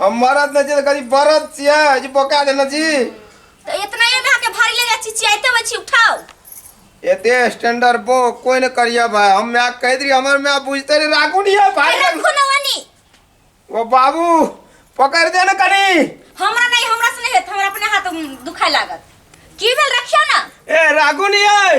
हम मरद न छी त कनी बरद छियै जे बोका देने छी तो इतना ये में आके भारी ले जा चिचियाते हुए छी उठाओ एते स्टैंडर्ड बो कोई न करिया भाई हम मैं कह दी हमर मैं बुझते रे राखू नहीं है भाई अरे रखो ना वानी ओ बाबू पकड़ दे न कनी हमरा नहीं हमरा से नहीं हेत हमरा अपने हाथ दुखाए लागत की भेल रखियो ना ए राखू नहीं है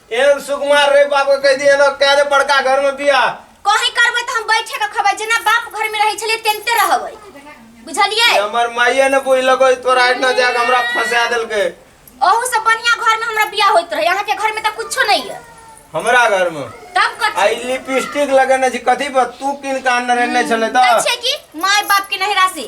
एहन सुकुमार रे बाप के कह दिए ना कह दे बड़का घर में बिया कहीं करबै त हम बैठे के खबै जेना बाप घर में रहै छलिए तेनते रहबै बुझलिए हमर माइये ने बुझ लगो तोरा इतना जाग हमरा फंसा देल के ओहू से बढ़िया घर में हमरा बियाह होइत रहे अहाँ के घर में त कुछो नहीं है हमरा घर में तब कथी आई लिपस्टिक लगने छी कथी पर तू किन कान रहने छले त छै कि माय बाप के नहरा से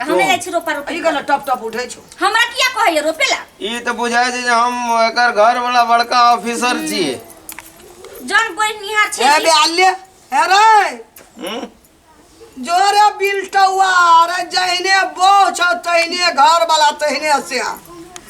हम तो- नहीं जाय छी रोपा रोपी अरे गला टप टप उठे छो हमरा किया कहैया रोपेला ई तऽ बुझाय छै जे हम एकर घर वाला बड़का ऑफिसर छियै जन बोल निहार छै ए बे आल्य हे रे हम्म? जोरे बिल्टवा अरे जहने बो छौ तहने घर वाला तहने से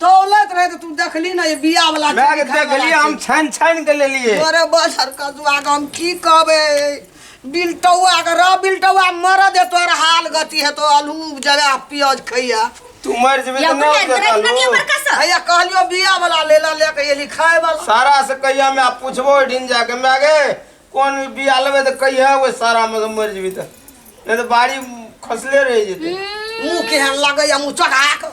दौलत रहे तो तू देखली ना ये बिया वाला मैं चीज, खाए वाला देखलिए हम चीज। छान छान के ले लिए अरे बस हरका तू आगे हम की कहबे बिलटौआ के रह बिलटौआ मर दे तोर हाल गति है तो आलू जगह प्याज खैया तू मर जेबे यो तो ना कुल अंदर कनिया देखलू बड़का सा भैया कहलियो बिया वाला ले ला लेके ये लिखाए वाला सारा से कहिया मैं पूछबो ओइठिन जाके मैं आगे कौन बिया लेबे तो कहिया वो सारा में तो मर जेबी तो नहीं तो बाड़ी खसले रह जेते मुंह केहन लगे या मुंह चढ़ा के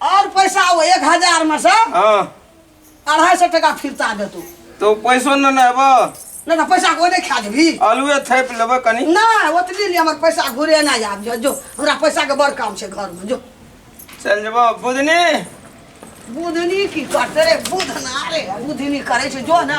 आओर पैसा ओ एक हजारमे सँ हँ अढ़ाइ सए टाका फिरता देतौ तो पैसो न न एबो नहि तऽ पैसा को नहि खा जेबही आलूए थैप लेबै कनी नहि ओतबी लिए हमर पैसा घुरे नहि आब जो जो हमरा पैसाके बड़ काम छै घरमे जो चल जेबो बुधनी बुधनी की करते रे बुधना रे बुधनी करै छै जो ना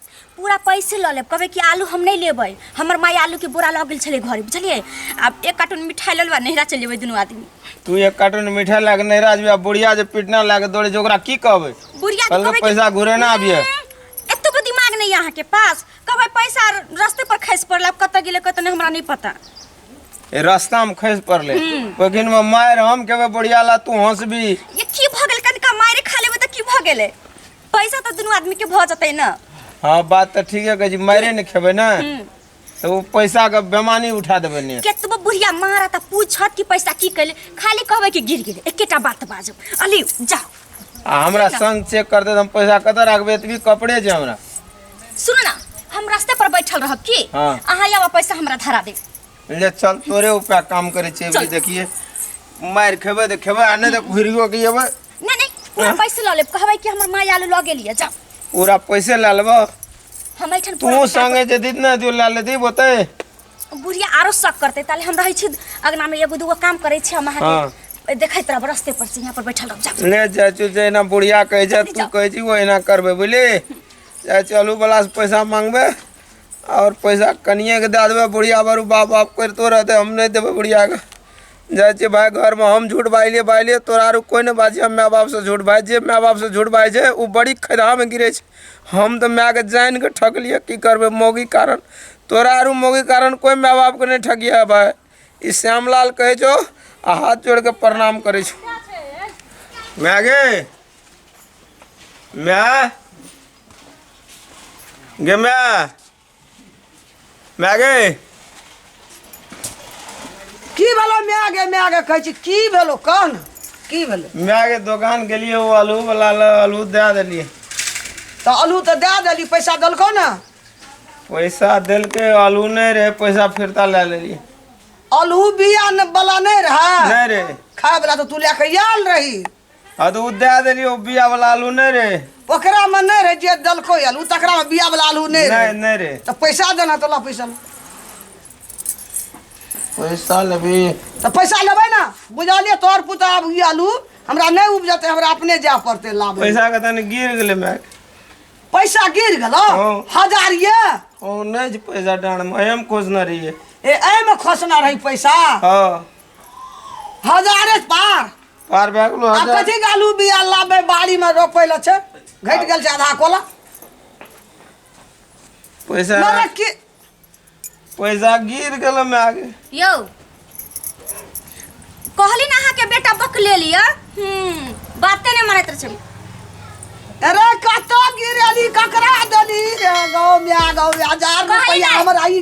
पूरा पैसे लऽ लेब कहबै कि आलू हम नहि लेबै हमर माय आलूके बोरा लऽ गेल छलै घरे बुझलियै आब एक कार्टून मिठाइ लऽ लेबै नैहरा चलि जेबै दुनू आदमी तू एक कार्टून मिठाइ लए कऽ नैहरा जेबै आ बुढ़िया जे पिटना लए कऽ दौड़े छै ओकरा की कहबै बुढ़िया के कहबै पैसा घुरे ना आबिए एतबो दिमाग नहि अहाँ के पास कहबै पैसा रस्ते पर खसि पड़ल आब कतऽ गेलै कतऽ नहि हमरा नहि पता ए रास्ता में खसि पड़ले हम्म। ओखिन में मार हम कहबै बुढ़िया ला तू हंसबी ये की भऽ गेल कनिका मारे खा लेबै तऽ की भऽ गेलै पैसा तो दोनों आदमी के भ जतै ना हाँ बात तो ठीक है जी मारे न खेबे ना तो वो पैसा का बेमानी उठा देबे ने केतबो बुढ़िया मारा त पूछत कि पैसा की कैले खाली कहबे कि गिर गेले एकेटा बात बाजो अली जाओ आ हमरा संग चेक कर दे तो हम पैसा कतऽ रखबे एतबी कपड़े जे हमरा सुन ना हम रास्ते पर बैठल रहब की हाँ। अहाँ आवा पैसा हमरा धरा दे ले चल तोरे ऊपर काम करे छे चल। भी देखिए मार खेबे तो खेबे आ नहीं तो घुरियो के अबे ना नहीं पूरा हाँ? पैसे ला ले कहबै कि हमर माय आलू लगे लिए जा पूरा पैसे ला लेबो हम ऐठन तू पूरा संगे जे जितना दियो ला ले दी बोते बुढ़िया आरो शक करते ताले हम रहै छी अगना में एगो दूगो काम करै छी हम अहाँ हाँ। के देखैत रहब रस्ते पर से यहाँ पर बैठल रहब जा ले चाचू जहिना बुढ़िया कहै छै तू कहै छी ओहिना करबै बुझली चाचू आलू बला से पैसा मांगबै आओर पैसा कनिएके दए देबै बुढ़िया बारू बाप बाप करितो रहतै हम नहि देबै बुढ़ियाके जाइ छियै भाय घरमे हम झूठ बाजलियै बाजलियै तोरा आरो कोइ नहि बाजिहऽ माय बापसँ झूठ भाय जे माय बापसँ झूठ बाजै छै ओ बड़ी खदहामे गिरै छै हम तऽ मायकेँ जानि कऽ ठकलियै की करबै मौगीके कारण तोरा आरो मौगीके कारण कोइ माय बापकेँ नहि ठकिहऽ भाय ई श्यामलाल कहै छौ आ हाथ जोड़ि कऽ प्रणाम करै छौ माय गे माय गे माय माय गे की भेलो माय गे माय गे कहै छी की भेलो कह ने की भेलो माय गे दोकान गेलियै ओ आलू वाला लऽ आलू दए देलियै तऽ आलू तऽ दए देली पैसा देलकौ ने पैसा देलकै आलू नहि रहै पैसा फिरता लए लेलियै आलू बिया ने वाला नहि रहै नहि रहै खाय वाला तऽ तू लए कऽ आयल रही आ तऽ ओ दए देलियै ओ बिया वाला आलू नहि रे ओकरा में नहीं रहे जे दलको आलू तकरा में बिया वाला आलू नहीं रहे नहीं नहीं रे तो पैसा देना तो ला पैसा ला। पैसा लेबी तो पैसा लेबै ना बुझलिए तोहर पुता आब ई आलू हमरा नहीं उपजते हमरा अपने जाए पड़ते लाबे पैसा के तनी गिर गेलै माय पैसा गिर गेलो हाँ। हजार ये ओ नहि छै पैसा डाँड़ मे एम खोजने रहियै ए एहि में खोसना रही पैसा हँ हजारे पार पार भए गेलो आब हजार कथी गालू बिया लाबे बाड़ी में रोपे ला छै घटि गेल छै आधा कोला पैसा मने की पैसा गिर गेलो में आगे यौ कहली ना अहाँके बेटा बक ले लिअ हम्म, बाते नहि मानैत रहै छै। अरे कतऽ गिरेली ककरा देली रे गाँव में आ गाँव में हजार कही रुपया नहीं। हमरा ई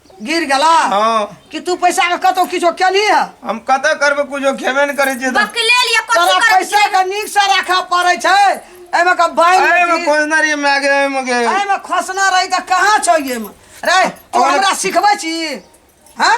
गिर गेला हाँ कि तू पैसा के कतौ किछो केली है हम कत करबे कुछो खेबे ने करे छियै तऽ बक ले लिया तोरा कथी करब पैसा के नीक से राखऽ पड़ै छै एमे के बाइन अरे में लेती। खोजना रहिए मैं आगे आए मगे एहि में खोसना रही तऽ कहाँ छौ ये में रे तू ओकरा- हमरा सिखबै छी हैं